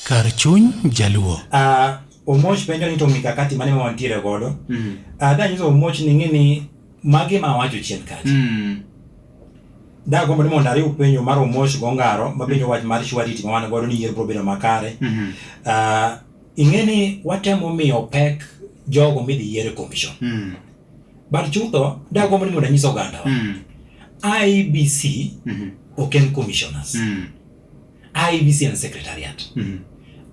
Kar chuny jaluo. Ah, Omoch penjo ni to mikakati mane ma wantiere godo. Mm. Ah, da nyiso Omoch ni ng'e ni magi ma wacho chien kacha. Mm. Da gombo ni mondo ariw penjo mar Omoch gongaro ma penjo wach mar shwariti ma wan godo ni yiero biro bedo makare. Mhm. Ah, ing'e ni watemo miyo pek jogo midhi yiero e commission. Mm. But chutho, da gombo ni mondo anyis oganda wa. Mm. IBC Mhm. ok en commissioners. Mm. IBC en secretariat. Mm -hmm.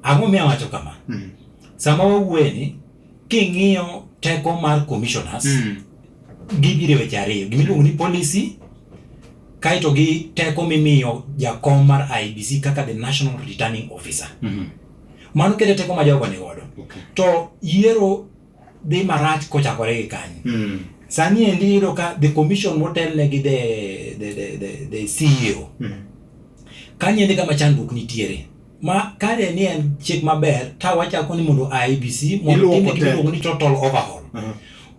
Ang'o miya wacho kama? Mm -hmm. Sama wawuoye ni king'iyo teko mar commissioners mm -hmm. gibiro weche ariyo gimiluongo ni policy kaito gi teko mimiyo jakom mar IBC kaka the national returning officer. Mm -hmm. Mano kede teko ma jogo ni godo. Okay. To yiero dhi marach kochakore gi kanyo mm. sani endi iyudo ka the commission motelne gi the, the, the, the, the CEO mm. kanyo endi kama chandruok nitiere ma kare ni en chik maber ta wachako ni mondo IBC mondo timne gimiluongo ni total overhaul uh -huh.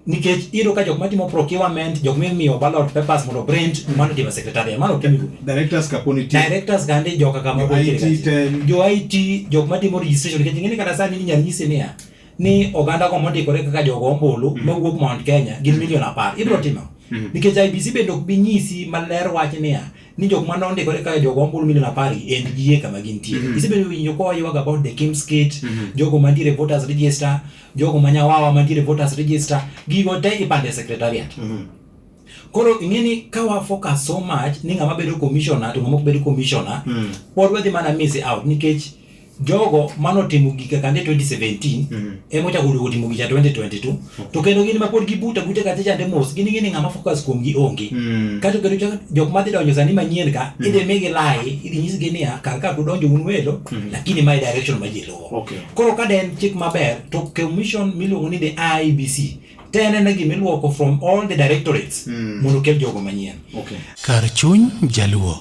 nikech iyudo ka jok matimo procurement jok mimiyo ballot papers mondo print mm. mano time secretary mano time directors kaponi ti directors gande joka kama jo IT jok matimo registration nikech ngene kata sani ni nyanyisi niya ni oganda go mondikore kaka jogo ombulu mm. mawuok Mount Kenya gin mm. milion apar ibiro mm. timo mm. nikech IBC bende ok bi nyisi maler wach niya ni jok ma nondikore kaka jogo ombulu milion apar en gie kama gintie mm. isebedo winjo kwa yuag about the Kim's Gate mm. jogo mantiere voters register jogo manyawawa mantiere voters register gigo te ipande secretariat mm. Koro ing'e ni ka wa focus so much ni ng'ama bedo commissioner to ng'ama ok bedo commissioner mm. pod wadhi mana miss out nikech jogo mano timo gika kande 2017 mm -hmm. emo chako lugo timo gika 2022 to kendo gin mapod gibuta buta kata chande mos gin gini ngama focus kuom gi onge mm -hmm. kato kendo chako jok madhi donjo sani manyien ka mm -hmm. idhi migi lai idhi nyis gi niya kar ka kudonjo un welo mm -hmm. lakini my direction ma ji luwo okay. koro ka den chik maber to commission miluongo ni the IBC tene ne gimiluoko from all the directorates mm. mondo kel jogo manyien okay. kar chuny jaluo